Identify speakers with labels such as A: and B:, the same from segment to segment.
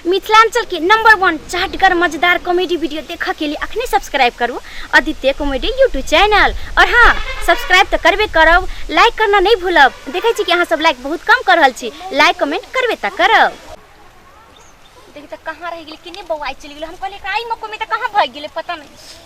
A: मिथिलांचल के number one चाटगर मजेदार कॉमेडी वीडियो देखा के लिए अखने सब्सक्राइब करू आदित्य कॉमेडी यूट्यूब चैनल और हाँ सब्सक्राइब तो करबे करब लाइक करना नहीं भूलब देखे छी कि अहाँ सब लाइक बहुत कम कर रहल छी लाइक कमेंट करबे तो करब देखी तो कहाँ रह गेली किने बौआई चलि गेलो हम कहले एकरा आई मको में तो कहाँ भाग गेले पता नहीं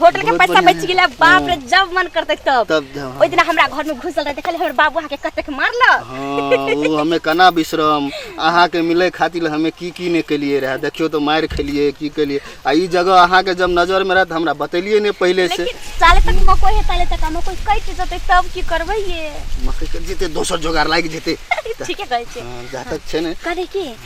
B: होटल के बहुत पैसा बढ़िया बच
A: है। गेला बाप रे जब मन करते तब तब जाओ। ओइ दिन हमरा घर में घुसल रहे देखल हमर बाबू अहाँ के कतेक मारला हाँ वो
B: हमें कना बिश्रम अहाँ के मिले खातिर हमें की की ने केलिए रहे देखियो तो मार खेलिए की केलिए आ ई जगह अहाँ के जब नजर में रहे तो हमरा बतेलिए ने पहले से लेकिन साले तक मकोई
A: है साले तक मकोई कई चीज होते तब की करबै ये मकई के जेते
B: दोसर जोगार लागि जेते ठीके कहै छै
A: हाँ, जा तक छै ने
B: करे की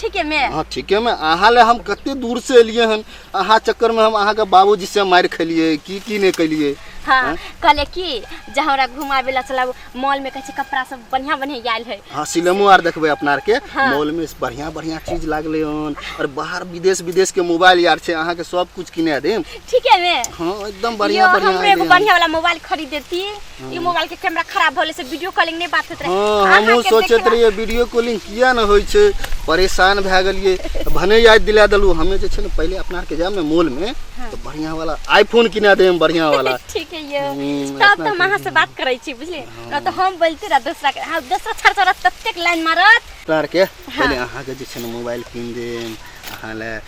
B: ठीके में अहाँ
A: ठीके में अहाँ
B: ले हम कते दूर से एलिए हन अहाँ चक्कर में हम अहाँ के बाबूजी से मार खेलिए की की नहीं कलिए हाँ, हाँ? कहले
A: की जे हमरा घुमावे ला चलाओ मॉल में कहे कपड़ा सब बढ़िया बढ़िया आयल है हाँ सिनेमो आर देखबे
B: अपना आर के हाँ। मॉल में बढ़िया बढ़िया चीज लागले हन और बाहर विदेश विदेश के मोबाइल यार छे अहाँ के सब कुछ किने दे ठीक है में हाँ
A: एकदम बढ़िया
B: बढ़िया हमरे एगो बढ़िया वाला मोबाइल
A: खरीद देती ई मोबाइल के कैमरा खराब होले से वीडियो कॉलिंग नहीं बात होत रहे हाँ अहाँ हमहूँ के सोचत देखला-
B: रहिए वीडियो कॉलिंग किया न होइ छै परेशान भए गेलिए भने याद दिला देलू हमे जे छै ने पहिले अपना आरके जायब ने मॉल में तो बढ़िया वाला आईफोन किना देब बढ़िया वाला ठीक है ये हम्म,
A: तब अपना तो हम अहाँ से बात करै छी बुझलिए न तो हम बोलते रह दूसरा के हाँ दूसरा छड़ छड़ ततेक लाइन मारत अपना आरके पहिले
B: अहाँके जे छै ने मोबाइल कीन देब अहाँ लए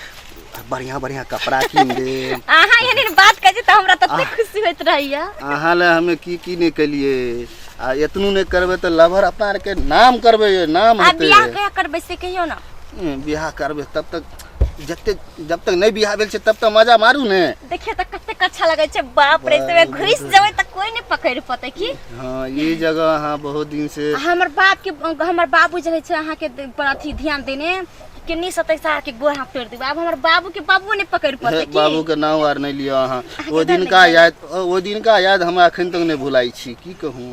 B: बढ़िया बढ़िया कपड़ा कीन दे अहाँ एहन बात
A: कहे त हमरा तते खुशी होइत रहैया अहाँ ले हमें की
B: की नहीं कलिए आ एतनू नहीं करबे तो लवर अपना आर के नाम करबे ये नाम आ हेते बियाह कहिया करबै
A: से कहियो ना हम्म, बियाह करबे
B: तब तक जते जब तक नहीं बियाह भेल छै तब तक मजा मारू ने देखिए त कतेक अच्छा
A: लगै छै बाप रे तबे घुस जेबै त कोई नहीं पकड़ पते की हाँ ये जगह
B: अहाँ बहुत दिन से आ हमर बाप के
A: हमर बाबू जे है छै अहाँ के अथी ध्यान देने किन्नी सतै साहब के गोड़ हाथ तोड़ देबो आब हमर बाबू के बाबू ने पकड़ पड़ते की बाबू के नाम आर नहीं लियो
B: अहाँ अहाँके ओ तऽ दिन का नहि याद ओ दिन का याद हमरा अखन तक नहीं भुलाई छी की कहूँ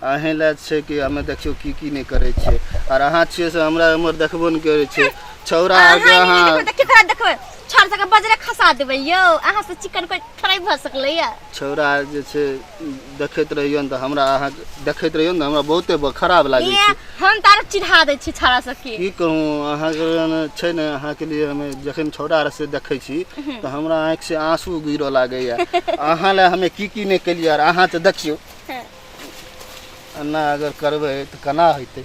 B: अहें लए छै कि हमे देखियो की की नहीं करे छै और अहाँ छियै से हमरा उमर देखबो नहीं करे छै छौरा आर के अहाँ अहाँ देखियो करा देखबै
A: छड़ सके बजरे खसा देबै यौ अहाँ से चिकन कोइ थोड़े भऽ सकलैया छौड़ा जे छै
B: देखैत रहियौ ने तऽ हमरा अहाँ देखैत रहियौ ने हमरा बहुते ब- खराब लागै ये, छै हम तारा चिढ़ा
A: दै छी छड़ा सबके की कहूँ अहाँके
B: ने छै ने अहाँके लिए हमे जखन छौड़ा आर से देखै छी तऽ हमरा आँखि से आंसू गिरऽ लागैया अहाँ लए हमे की की नहि केलियै आर अहाँ तऽ देखियौ एना अगर करबै तऽ केना हेतै